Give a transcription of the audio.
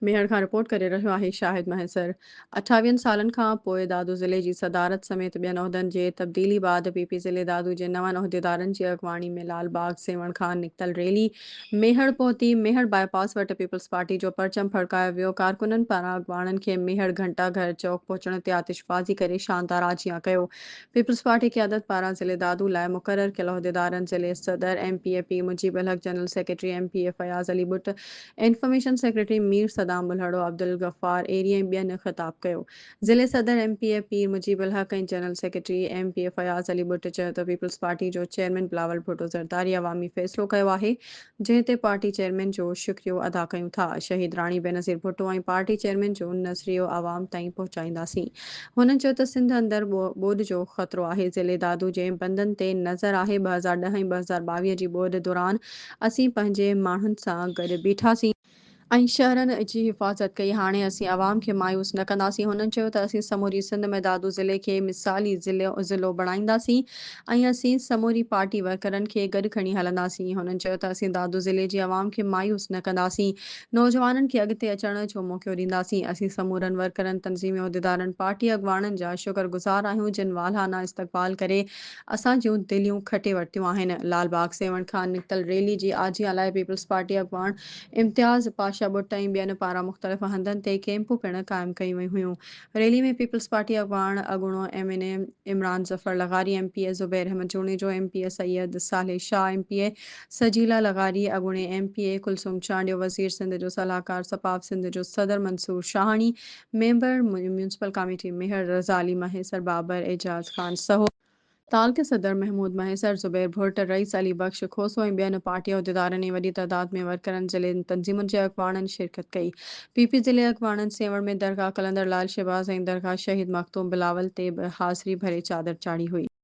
ميهڙ کان رپورٽ ڪري رهيو آهي شاهد مهيسر. اٺاويهن سالن کان پوء دادو ضلعي جي صدارت سميت ٻين عهدن جي تبديلي بعد پي پي ضلعي دادو جي نون عهديدارن جي اڳواڻي ۾ لال باغ سيوهڻ کان نڪتل ريلي ميهڙ پهتي، ميهڙ باء پاس وٽ پيپلز پارٽي جو پرچم ڦڙڪايو ويو، ڪارڪنن پاران اڳواڻن کي ميهڙ گهنٽا گهر چوڪ پهچڻ تي آتش بازي ڪري شاندار آجيان ڪيو، پيپلز پارٽي قيادت پاران ضلعي دادو لاء مقرر ڪيل عهديدارن ضلعي صدر M P A P Mujeeb ul Haq, general secretary M P A Fayaz Ali Butt, information secretary Mir Saddam Bulhro, Abdul Ghaffar Eri ۽ ٻين خطاب ڪيو. ضلعي صدر M P A Pir Mujeeb ul Haq ۽ general secretary M P A Fayaz Ali Butt چيو ته پيپلز پارٽي جو چيئرمين بلاول ڀٽو زرداري عوامي فيصلو ڪيو آهي جنهن تي پارٽي چيئرمين جو شڪريو ادا ڪيون ٿا شهيد راڻي بينظير ڀٽو ۽ پارٽي چيئرمين جو نظريو عوام تائين پهچائينداسين هن چيو ته سنڌ اندر ٻوڏ جو خطرو آهي ضلعي دادو جي بندن تي نظر آهي ٻه هزار ڏهه ۽ ٻه هزار ٻاويهه جي ٻوڏ دوران اسين پنهنجي ماڻهن سان گڏ بيٺاسين. ۽ شهرن جي حفاظت ڪئي. هاڻي اسين عوام کي مايوس نه ڪنداسين. هنن چيو ته اسين سموري سنڌ ۾ دادو ضلعي کي مثالي ضلعو بڻائينداسين ۽ اسين سموري پارٽي ورڪرن کي گڏ کڻي هلنداسين. هنن چيو ته اسين دادو ضلعي جي عوام کي مايوس نه ڪنداسين. نوجوانن کي اڳتي اچڻ جو موقعو ڏينداسين. اسين سمورن ورڪرن، تنظيمي عهديدارن، پارٽي اڳواڻن جا شڪر گذار آهيون جن والهانه استقبال ڪري اسان جون دليون کٽي ورتيون آهن. لال باغ سيوهڻ کان نڪتل ريلي جي آجيان لاء پيپلز پارٽي اڳواڻ امتياز پاشا ٻٽ ۽ ٻين پاران مختلف هنڌن تي ڪيمپون پڻ قائم ڪيون ويون هيون. ريلي ۾ پيپلز پارٽي اڳواڻ اڳوڻو M N A Imran Zafar لغاري، M P A Zubair Ahmed Junejo, M P A Syed Saleh Shah, M P A Sajeela لغاري، اڳوڻي M P A Kulsoom Chandio, وزير سنڌ جو صلاحڪار سپاف سنڌ جو صدر Mansoor Shahani, member municipal committee Mehar Raza Ali Mahesar, Babar Ejaz Khan Sahu, تعلقي صدر محمود مهيسر، زبير ڀرٽ، رئيس علي بخش کوسو ۽ ٻين پارٽي عهديدارن ۽ وڏي تعداد ۾ ورڪرن ضلعي تنظيمن جي اڳواڻن شرڪت ڪئي. پ پ ضلعي اڳواڻن سيوهڻ ۾ درگاهه قلندر لعل شهباز ۽ درگاهه شهيد مخدوم بلاول تي به حاضري ڀري چادر چاڙهي هئي.